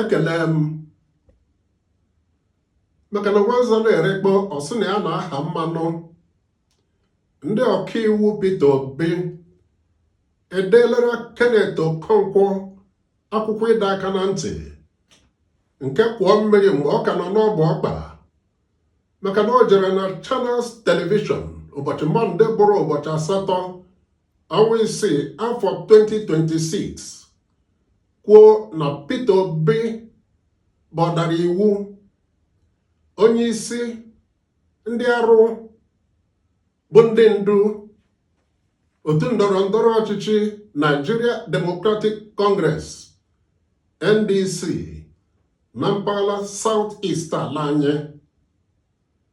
ekele m maka na nwanza na-erekpọ ọ sị na ya na-aha mmanụ ndị ọkaiwu Peter Obi edeelara Kenneth Okonkwo akwụkwọ ịdọ aka na ntị nke kwọọ mmiri mgbe ọ ka nọ n'ọbụ ọkpa maka na o jere na Channels Television ụbọchị mọnde bụrụ ụbọchị asatọ ọnwa isii afọ 2026 kwuo na Peter Obi bụ ọdara iwu onye isi ndị arụ bụ ndị ndu otu ndọrọ ndọrọ ọchịchị Nigeria Democratic Congress NDC na mpaghara South East ala anyị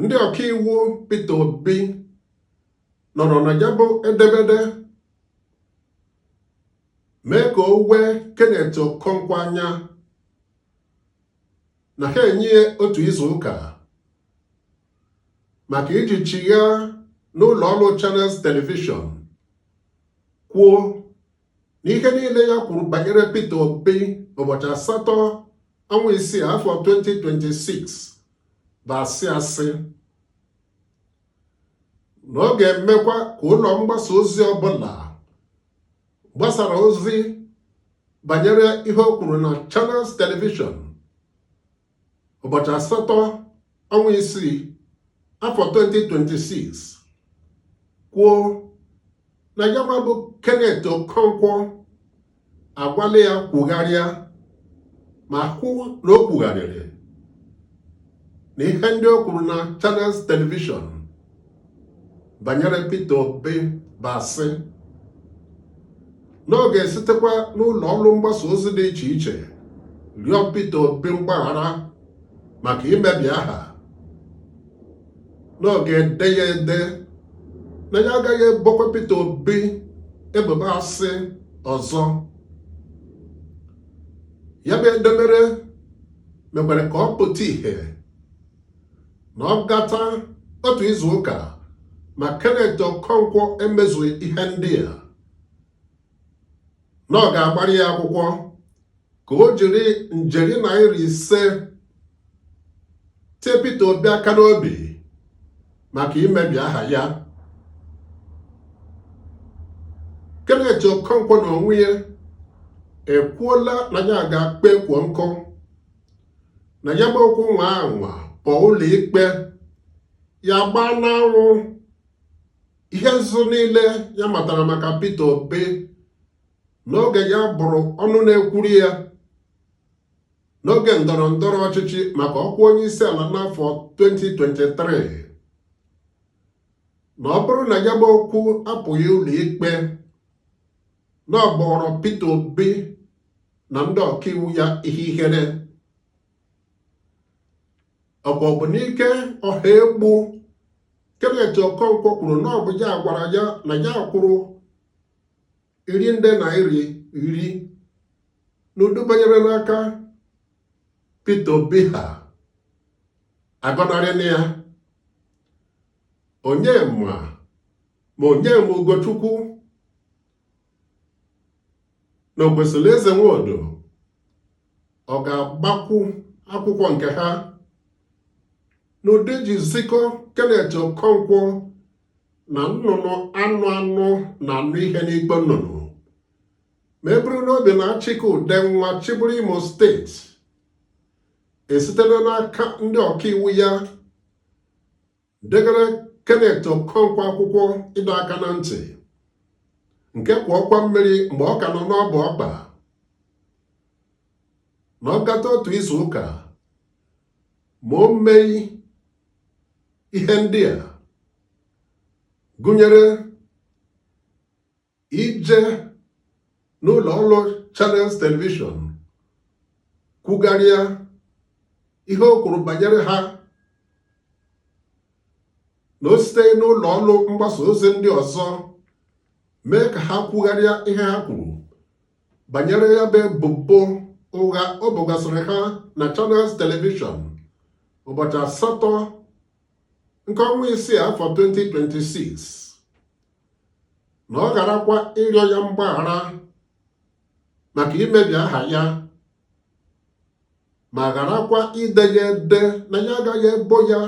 ndị ọkaiwu Peter Obi nọrọ na ya bụ edemede mee ka o wee Kenneth Okonkwo anya na ha enye ya otu izu ụka maka iji chigha n'ụlọ ọrụ Channels Television kwuo na ihe niile ya kwuru banyere Peter Obi ụbọchị asatọ ọnwa isii afọ 2026 bụ asị asị na ọ ga-emekwa ka ụlọ mgbasa ozi ọbụla gbasara ozi banyere ihe o kwuru na Channels Television ụbọchị asatọ ọnwa isii afọ 2026 kwuo na ya bụ Kenneth Okonkwo agwala ya kwugharịa ma hụ na o kwugharịrị na ihe ndị o kwuru na Channels Television banyere Peter Obi bụ asị na ọ ga-esitekwa n'ụlọ ọrụ mgbasa ozi dị iche iche rịọ Peter Obi mgbaghara maka imebi aha na ọ ga-ede ya ede na ya agaghị ebokwa Peter Obi ebubo asị ọzọ ya bụ edemede mekwara ka ọ pụta ìhè na ọ gata otu izu ụka ma Kenneth Okonkwo emezughị ihe ndị a na ọ ga-agbara ya akwụkwọ ka o jiri njeri naira ise tie Peter Obi aka n'obi maka imebi aha ya Kenneth Okonkwo n'onwe ya ekwuola na ya ga-akpọ ekwo nkụ na ya bụ okwu nwaa anwa pụọ ụlọ ikpe ya agbaa n'anwụ ihe nzuzo niile ya matara maka Peter Obi n'oge ya bụrụ ọnụ na-ekwuru ya n'oge ndọrọ ndọrọ ọchịchị maka ọkwa onye isi ala n'afọ 2023 na ọ bụrụ na ya bụ okwu apụghị ụlọ ikpe na ọ ga-abụrụ Peter Obi na ndị ọkaiwu ya ihe ihere Obunike Ohaegbu Kenneth Okonkwo kwuru na ọ bụ ya gwara ya na ya kwụrụ iri nde naira iri n'udu banyere n'aka Peter Obi ha agọnarịna ya onye ma ma Onyema Ugochukwu na Okwesilieze Nwodo ọ ga-agbakwu akwụkwọ nke ha n'ụdị ji zikọ Kenneth Okonkwo na nnụnụ anụ anụ na-anụ ihe n'ikpe nnụnụ ma e buru n'obi na Achike Udenwa chịbụrụ Imo steeti esitela n'aka ndị ọkaiwu ya degara Kenneth Okonkwo akwụkwọ ịdọ aka na ntị nke ka ọ kwaa mmiri mgbe ọ ka nọ n'ọbụ ọkpa na ọ gata otu izu ụka ma o meghị ihe ndị a gụnyere ije n'ụlọ ọrụ Channels Television kwugharịa ihe o kwuru banyere ha na o siteghị n'ụlọ ọrụ mgbasa ozi ndị ọzọ mee ka ha kwugharịa ihe ha kwuru banyere ya bụ ebubo ụgha o bogasịrị ha na Channels Television ụbọchị asatọ nke ọnwa isii afọ 2026 na ọ gharakwa ịrịọ ya mgbaghara maka imebi aha ya ma gharakwa ide ya ede na ya agaghị ebo ya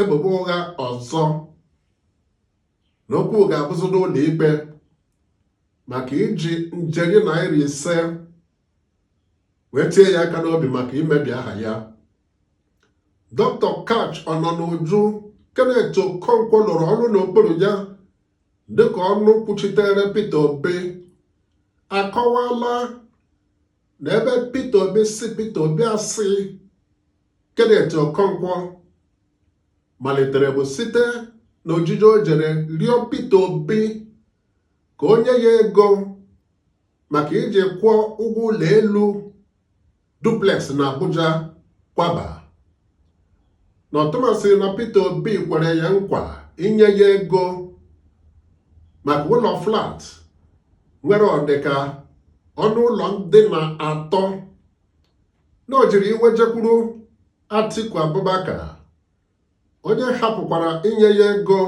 ebubo ụgha ọzọ na okwu ga-abụzi n'ụlọ ikpe maka iji njeri naira ise wee tie ya aka n'obi maka imebi aha ya Dr. Kach Ọnọnuju Kenneth Okonkwo lụrụ ọrụ n'okpuru ya dịka ọnụ kwuchitere Peter Obi akọwala na ebe Peter Obi si Peter Obi asị Kenneth Okonkwo malitere bụ site na ojije o jere rịọ Peter Obi ka o nye ya ego maka iji kwụọ ụgwọ ụlọ elu duplex na Abuja kwaba na ọtụmasị na Peter Obi kwere ya nkwa inye ya ego maka ụlọ flat nwere ọdịka ọnụ ụlọ ndina atọ na o jiri iwe jekwuru Atiku Abubakar onye hapụkwara inye ya ego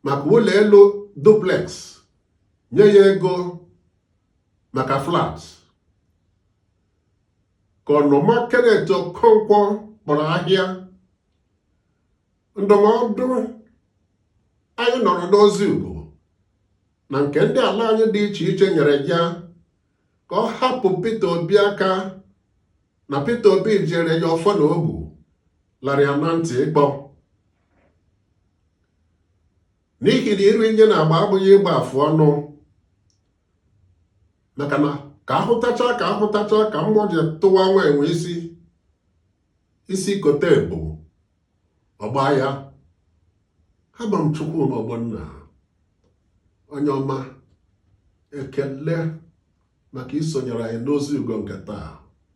maka ụlọ elu duplex nye ya ego maka flat ka ọnụma Kenneth Okonkwo kpọrọ ahịa ndụmọdụ anyị nọrọ n'ozi ugo na nke ndị ala anyị dị iche iche nyere ya ka ọ hapụ Peter Obi aka na Peter Obi jiri ya ọfọ na ogu lara ya na ntị ikpo n'ihi na iri nye na agba abụghị ịgba afụ ọnụ maka na ka ahụtacha ka ahụtacha ka mgbọ ji tụwa nwa enwe isi isi kote ebu ọ gbaa ya abụ m Chukwuma Ogbonna onye ọma ekele maka isonyere anyị n'ozi ugo nke taa